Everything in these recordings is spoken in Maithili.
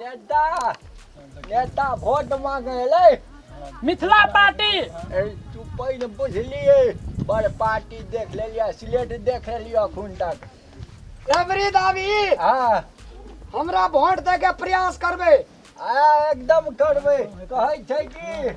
नेता नेता वोट मांगे एलै मिथिला पार्टी ए, तू पहिने बुझलिए बड़ पार्टी देख लेलिए सिलेट देख लेलिए अखन तक रबरी दाबी हाँ हमरा वोट दे के प्रयास करबे आ एकदम करबै कहै छै कि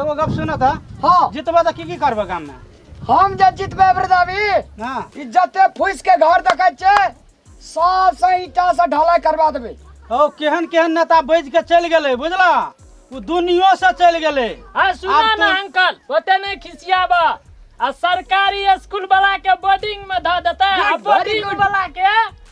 एगो गप सुन त हाँ जितबे त की की करबे गाम में हम जे जितबे वृदावी हां ई जते फूस के घर देखे छे सब से ईटा से ढलाई करवा देबे ओ केहन केहन नेता बैज के चल गेले बुझला उ दुनियो से चल गेले हाँ सुना आब ना तू- अंकल ओते नहीं खिसियाबा आ सरकारी स्कूल वाला के बोर्डिंग में ध देते आ Very बोर्डिंग good. वाला के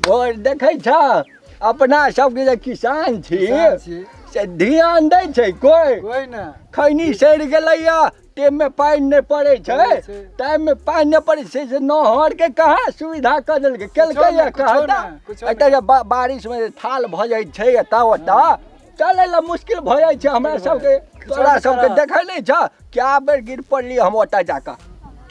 भोर देखै छ अपना सबके जे किसान छी किसान छी से ध्यान दै छै कोइ कोई ना खैनी सड़ि गेलैया टाइममे पानि नहि पड़ै छै पड़ै छै। टाइममे पानि नहि पड़ै छै से नहरके कहाँ सुविधा कऽ देलकै केलकैया कुछो कहाँ नहि, कुछो नहि। एतऽ जे बा- बारिशमे जे थाल भऽ जाइ छै एतऽ ओतऽ चलै लए मुश्किल भऽ जाइ छै हमरा सबके तोरा सबके देखै नहि छ कए बेर गिर पड़ली हम ओतऽ जाकऽ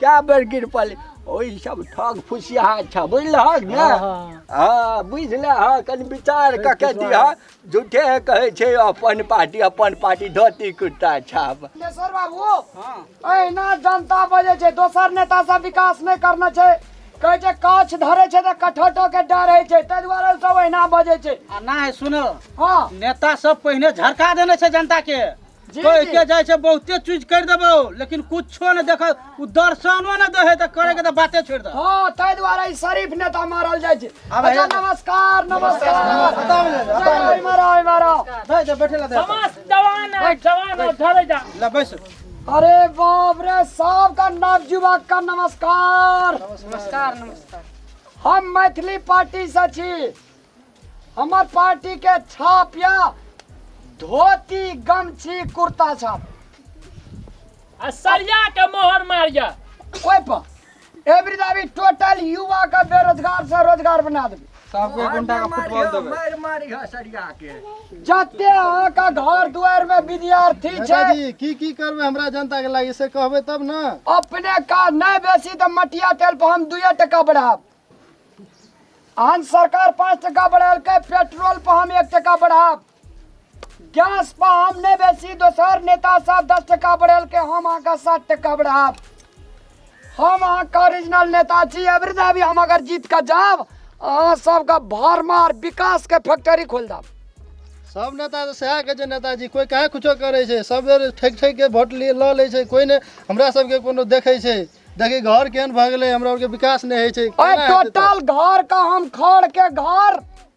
कए बेर गिर पड़ली ओहि सब ठग फुसिया छ बुझलहक ने हाँ, हाँ। हँ बुझले हँ कनि विचार कऽ के दिह झूठे कहै छै अपन पार्टी अपन पार्टी धोती कुर्ता छाप बाबू अहिना जनता बजे छै दोसर नेता सब विकास नहि करना छै कहै छै काछ धरे छै तऽ कठौटो के डर होइ छै ताहि दुआरे ओ सब ओहिना बजै छै आ नहि सुनो हँ नेता सब पहिने झरका देने छै जनता के जी, कह जी। के जाइ छै बहुते चीज कर देबो लेकिन कुछो ने देख उ दर्शनो ने दे है त करे के त बाते छोड़ दे हँ ताहि दुआरे ई शरीफ नेता मारल जाइ छै आब अच्छा हे- नमस्कार नमस्कार हटाओ ले, हटाओ ले। ओहिमे रहो, ओहिमे रहो। दे दे बैठे ला दे समस्त जवान है जवान हो धरे जा ले बैस अरे बाप रे सबका नवजुवक का नमस्कार नमस्कार नमस्कार हम मैथिली पार्टी से छी हमर पार्टी के छाप या धोती गमछी कुर्ता छाप आ सरिया के मोहर मारिया कोई पर ए वृद्धावी टोटल युवा के बेरोजगार से रोजगार बना देबे सबके एक घंटा का फुटबॉल देबै मार मारी है सरिया के जते अहाँ के घर दुआर में विद्यार्थी छै दादाजी की की करबै हमरा जनता के लागि से कहबै तब ने अपने का नहीं बेसी तो मटिया तेल पर हम दुए टका बढ़ाब अहन सरकार पाँच टका बढ़ेलकै पेट्रोल पर हम एक टका बढ़ाब गैस पर हम नहीं बेसी दोसर नेता सब दस टका बढ़ेल के हम अहाँके सात टका बढ़ाब हम अहाँके ओरिजिनल नेता छी एवरी डे भी हम अगर जीत के जाब अहाँ सबके भर मार विकास के फैक्ट्री खोल देब सब नेता तऽ सएह कहै छै नेताजी कोइ कहाँ कुछो करै छै सब बेर ठकि ठकि के वोट लिए लऽ लै छै कोइ ने हमरा सबके कोनो देखै छै देखी घर केहन भऽ गेलै हमरा आरके विकास नहि होइ छै ओए केना हेतै तऽ? टोटल घर का हम खड़ के घर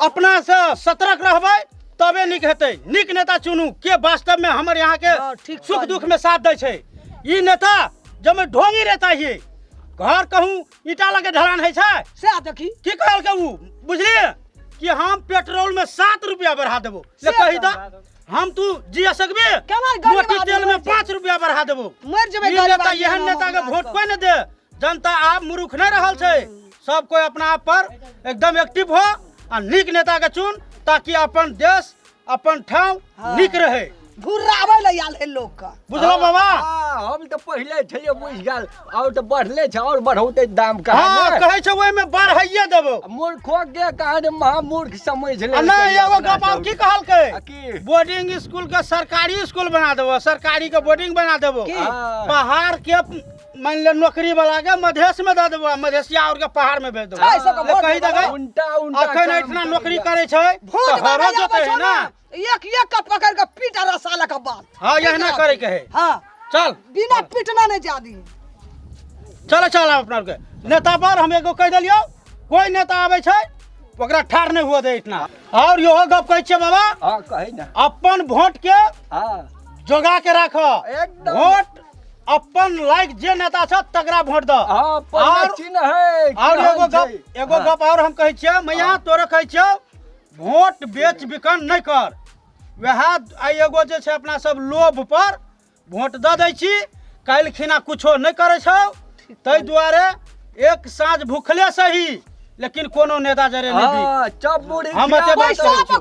अपनासँ सतर्क रहबै तबे नीक हेतै नीक नेता चुनू के वास्तवमे हमर हँ, यहाँके ठीक सुख कहलियै। दुखमे साथ दै छै ई नेता जमे ढोंगी रहता ही घर कहूँ ईटा लगे ढलान होइ छै से देखी की कहलकै ऊ बुझलिए कि हम पेट्रोल में सात रुपया बढ़ा देबो ले से कही कहलकै। दा हम तू जिया सकबे केना गरीब मोटी आदमी तेल में मर जाए? पाँच रुपया बढ़ा देबो मरि जेबै ई गरीब नेता आदमी एहन एना नेता के महंगा वोट कऽ। कोई ने दे जनता आब मुरुख नहि रहल छै सब कोई अपना आप पर एकदम एक्टिव हो आ नीक नेता के चुन ताकि अपन देश अपन ठाव नीक रहे घुराबै लए आयल है लोग का बुझलो बाबा हाँ, हम तो पहले छलिए बुझ गल और तो बढ़ले छ और बढ़ौते दाम का हाँ कहे छै ओहि में बढ़ाइए देबो मूर्खो के कहने महामूर्ख समझ ले आ नहि एगो गप आब की कहलकै आ की? बोर्डिंग स्कूल के सरकारी स्कूल बना देबो सरकारी के बोर्डिंग बना देबो की? पहाड़ के मान ले नौकरी वाला के मधेश में दे देबो मधेशिया और के पहाड़ में भेज देबो ऐ सब ले वोट कहि देबो। देबै उल्टा उल्टा अखन काम इतना करै नौकरी छै। करे छै भूत तऽ हरो बनाया जोते है बचो ना ना। एक एक का पकड़ के पीट आ साला का बाल हां यहना करे के है हाँ चल बिना पीटना नहीं जादी चल चल आब अपना के नेता पर हम एगो कह देलियो कोई नेता आवे छै ओकरा ठार नहीं हुआ दे इतना और यो गप कहै छै बाबा हाँ कही ना अपन वोट के हाँ जोगा के राखो एकदम। वोट अपन लाइक जे नेता छ तकरा वोट द हां पहिले चिन्ह है और एगो गप एगो हाँ। गप और हम कहै छियै मैया हाँ। तोरे कहै छियौ वोट बेच बिकन नै कर वएह आइ एगो जे छै अपना सब लोभ पर वोट द दै छी काल्हि खिना कुछो नै करै छौ ताहि दुआरे एक साँझ भूखले सही लेकिन कोनो नेता जरे नहि हाँ, बिक हम एते बात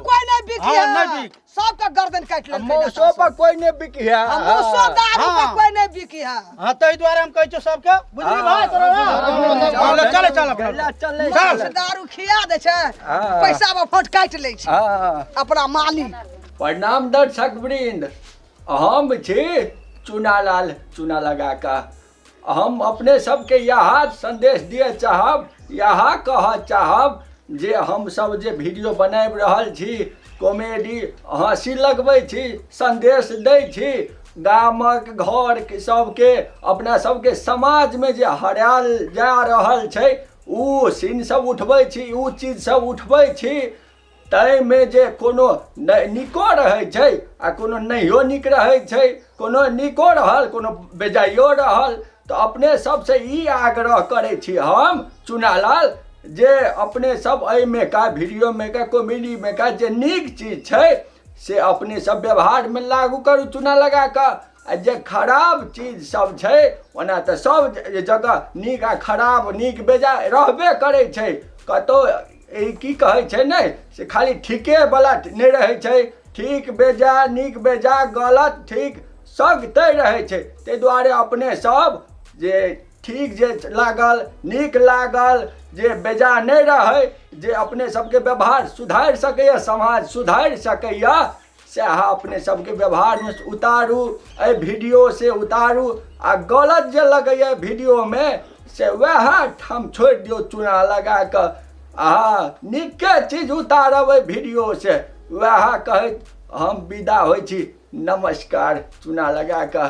कोई नहि बिक हां नै बिक सबके गर्दन काटि लेलकै मौसो नेता पर सब। कोई ने बिकी है आ मौसो दारू पर हाँ। कोई नहीं बिकी है हाँ ताहि दुआरे हम कहै छियौ सबके बुझली भाय तोरा ना? हाँ, ले, चले चल अपना। चल चल मौस दारू खिया दै छै हाँ। पैसा में फोट काटि लै छै हाँ अपना मालिक प्रणाम दर्शक वृंद हम छी चूनालाल चूना लगा कऽ हम अपने सबके इएह सन्देश दिअ चाहब इएह कहऽ चाहब जे हमसब जे वीडियो बनाबि रहल छी कॉमेडी हँसी लगबै छी सन्देश दै छी गामक घर सबके अपना सबके समाजमे जे हरायल जा रहल छै ओ सीन सब उठबै छी ओ चीज सब उठबै छी ताहिमे जे कोनो नहि नीको रहै छै आ कोनो नहियो नीक रहै छै कोनो नीको रहल कोनो बेजाइयो रहल तऽ अपने सबसँ ई आग्रह करै छी हम चुनालाल जे अपने सब एहिमे का वीडियोमे का कॉमेडीमे का जे नीक चीज छै से अपने सब व्यवहारमे लागू करू चुना लगा कऽ आ जे खराब चीज सब छै ओना तऽ सब जगह नीक आ खराब नीक बेजाय रहबे करै छै कतौ ई की कहै छै ने से खाली ठीके बलट नहि रहै छै ठीक बेजा नीक बेजा गलत ठीक सग तय रहै छै ताहि दुआरे अपने सब जे ठीक जे लागल नीक लागल जे बेजा नहि रहै जे अपने सबके व्यवहार सुधारि सकैए समाज सुधारि सकैए से अहाँ अपने सबके व्यवहारमे उतारू एहि वीडियो से उतारू आ गलत जे लगैए वीडियोमे से वएह ठाम छोड़ि दियौ चूना लगा कऽ अहाँ नीके चीज उतारब एहि वीडियो से वएह कहैत हम विदा होइ छी नमस्कार चूना लगा कऽ